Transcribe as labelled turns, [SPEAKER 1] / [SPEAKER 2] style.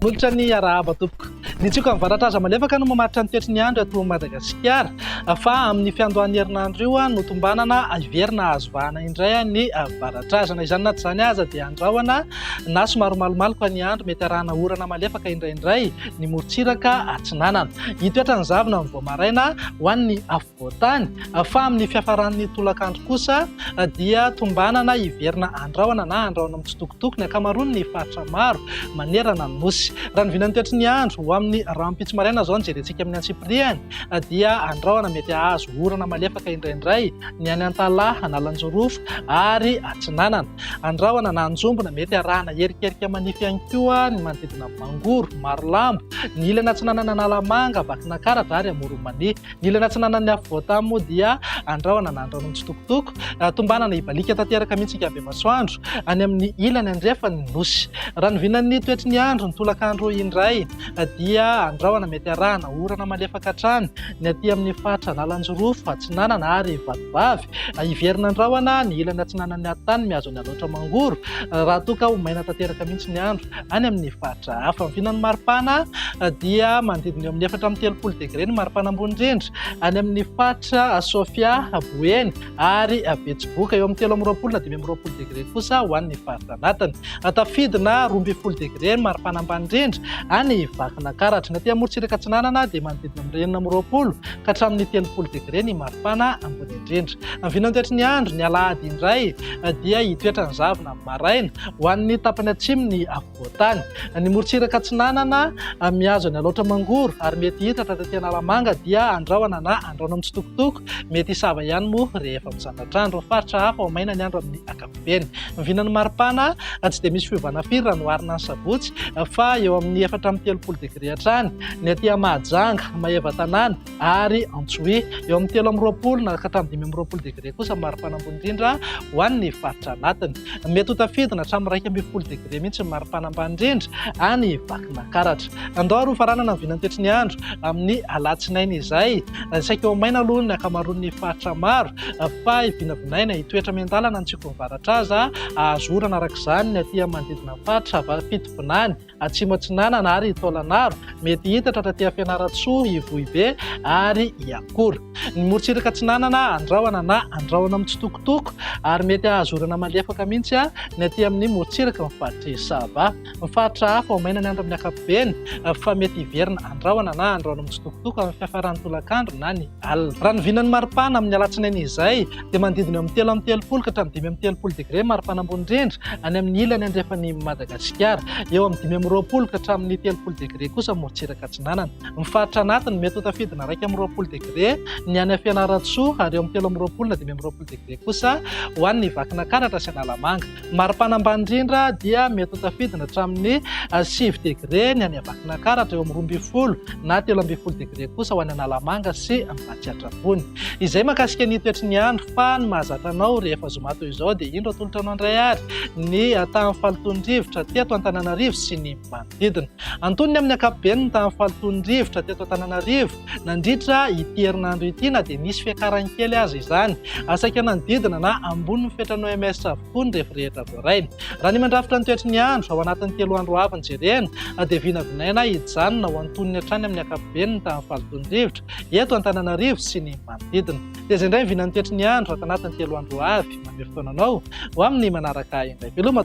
[SPEAKER 1] Molotra ny arahaba tompoko. Ny tsioka mivaratra aza malefaka no mamaritra ny toetry ny andro ato Madagasikara fa amin'ny fiandohan'ny herinandro io no tombanana hiverina azo vahana indray ny varatrazana. Izany na tsy izany aza dia andrahona na somary malomaloka ny andro mety arahana orana malefaka indraindray. ny morontsiraka atsinanana. Hitoetra ny zavona amin'ny vao maraina ho an'ny afovoan-tany, fa amin'ny fiafaran'ny tolakandro kosa dia tombanana hiverina handrahona na handrahona mitsitokotoko ny ankamaroan'ny faritra maro manerana ny nosy. Raha ny vinan'ny toetry ny andro, ho amin'ny rahampitso maraina izao no jerentsika amin'ny antsipiriany, dia andrahona mety hahazo orana malefaka indraindray ny any Antalaha, Analanjorofo ary Atsinanana. Andrahona na anjombona mety arahana erikerika manify ihany koa ny manodidina. Mangoro, Marolambo, ny ilany atsinanan'i Analamanga, Vakinankaratra ary Amoron'Imania. Ny ilany atsinanan'ny afovoan-tany moa dia Andrahona na Andrahona Mitsitokotoko. Tombanana hibaliaka tanteraka mihitsy ny andriamasoandro any amin'ny ilany andrefan'ny Nosy. Raha ny vinan'ny toetry ny andro ny tolakandro indray dia Andrahona mety arahana orana malefaka hatrany ny aty amin'ny faritra Analanjirofo atsinanana ary Vatovavy. Hiverina Andrahona ny ilany atsinanan'ny Haritany mihazo an'i Alaotra Mangoro raha toa ka ho maina tanteraka mihitsy ny andro. any amin'ny faritra hafa. Ny vinan'ny maripana dia manodidina eo amin'ny efatra amby telopolo degre ny maripana ambony indrindra any amin'ny faritra Sofia, Boeny ary Betsiboka. Eo amin'ny telo amby roapolo na dimy amby roapolo degre kosa ho an'ny faritra anatiny. Tafidina roa ambin'ny folo degre ny maripana ambany indrindra any Vakinakaratra. Ny aty amorontsiraka atsinanana dia manodidina amin'ny enina amby roapolo ka hatramin'ny telopolo degre ny maripana ambony indrindra. Ny vinan'ny toetry ny andro, ny alahady indray dia hitoetra ny zavona. maraina, ho an'ny tapany atsimon'ny afovoan-tany. Ny morontsiraka atsinanana mihazo an'i Alaotra Mangoro ary mety hitratra taty Analamanga dia andrahona na andrahona mitsitokotoko, mety hisava ihany moa rehefa mizandratra andro. Ny faritra hafa ho maina ny andro amin'ny ankapobeny. Ny vinan'ny maripana tsy dia misy fiovana firy raha noharina ny sabotsy fa eo amin'ny efatra amby telopolo degre hatrany ny aty Mahajanga, Maevatanàna, ary Antsohihy. Eo amin'ny telo amby roapolo na ka hatramin'ny dimy amby roapolo degre kosa ny maripana ambony indrindra ho an'ny faritra anatiny. Mety ho tafidina hatramin'ny iraika ambin'ny folo degre mihitsy ny maripana ambany indrindra any Vakinakaratra. Andao ary hofaranana ny vinan'ny toetry ny andro amin'ny alatsinainy izay. Saika ho maina aloha ny ankamaroan'ny faritra maro fa vinavinaina hitoetra miandalana ny tsikon'ny varatra aza hahazo orana araka izany ny aty manodidina ny faritra fitovinany. Atsimo Atsinanana ary i Taolagnaro, mety hita tratraty Fianarantsoa, Ivohibe ary Iakolo. Ny morontsiraka atsinanana Andrahona na Andrahona mitsitokotoko ary mety hahazo orana malefaka mihitsy ny aty amin'ny morontsiraky ny faritr'i Sava. Ny faritra hafa ho maina ny andro amin'ny ankapobeny fa mety hiverina Andrahona na Andrahona mitsitokotoko amin'ny fiafaran'ny tolakandro na ny alina. Raha ny vinan'ny maripana amin'ny alatsinainy izay, dia manodidina eo amin'ny telo amby telopolo ka hatramin'ny dimy amby telopolo degre mari-panambony rindra any amin'ny ilany andrefan'i Madagasikara, eo amin'ny dimy amby roapolo ka hatramin'ny telopolo degre kosa morontsiraka atsinanana. Ny faritra anatiny mety ho tafidina iraika amby roapolo degre ny any Fianarantsoa ary eo amin'ny telo amby roapolo na dimy amby roapolo degre kosa ho an'ny Vakinankaratra sy Analamanga. Mari-pana ambany indrindra dia mety ho tafidina hatramin'ny sivy degre ny any Vakinankaratra, eo amin'ny roa ambin'ny folo na telo ambin'ny folo degre kosa ho any Analamanga sy Ambatsiatrabony. Izay mahakasika ny toetry ny andro, fa ny mahazatra anao rehefa zoma toy izao dia indro atolotra anao indray ary ny tahan'ny fahalotoan'ny rivotra teto Antananarivo sy ny manodidina. Antonony amin'ny ankapobeny ny tahan'ny fahalotoan'ny rivotra teto Antananarivo. Nandritra ity herinandro ity na dia nisy fiakarany kely aza izany, saika nanodidina na ambony ny fetran'ny OMS avokoa ny refy rehetra voarainy. Raha ny mandrafitra ny toetry ny andro, ao anatin'ny telo andro avy no jerena, dia vinavinaina hijanona ho antonony hatrany amin'ny ankapobeny ny tahan'ny fahalotoan'ny rivotra eto Antananarivo sy ny manodidina. Tezay indray ny vinan'ny toetry ny andro ato anatin'ny telo andro avy. Mamery fotoana anao ho amin'ny manaraka indray veloma.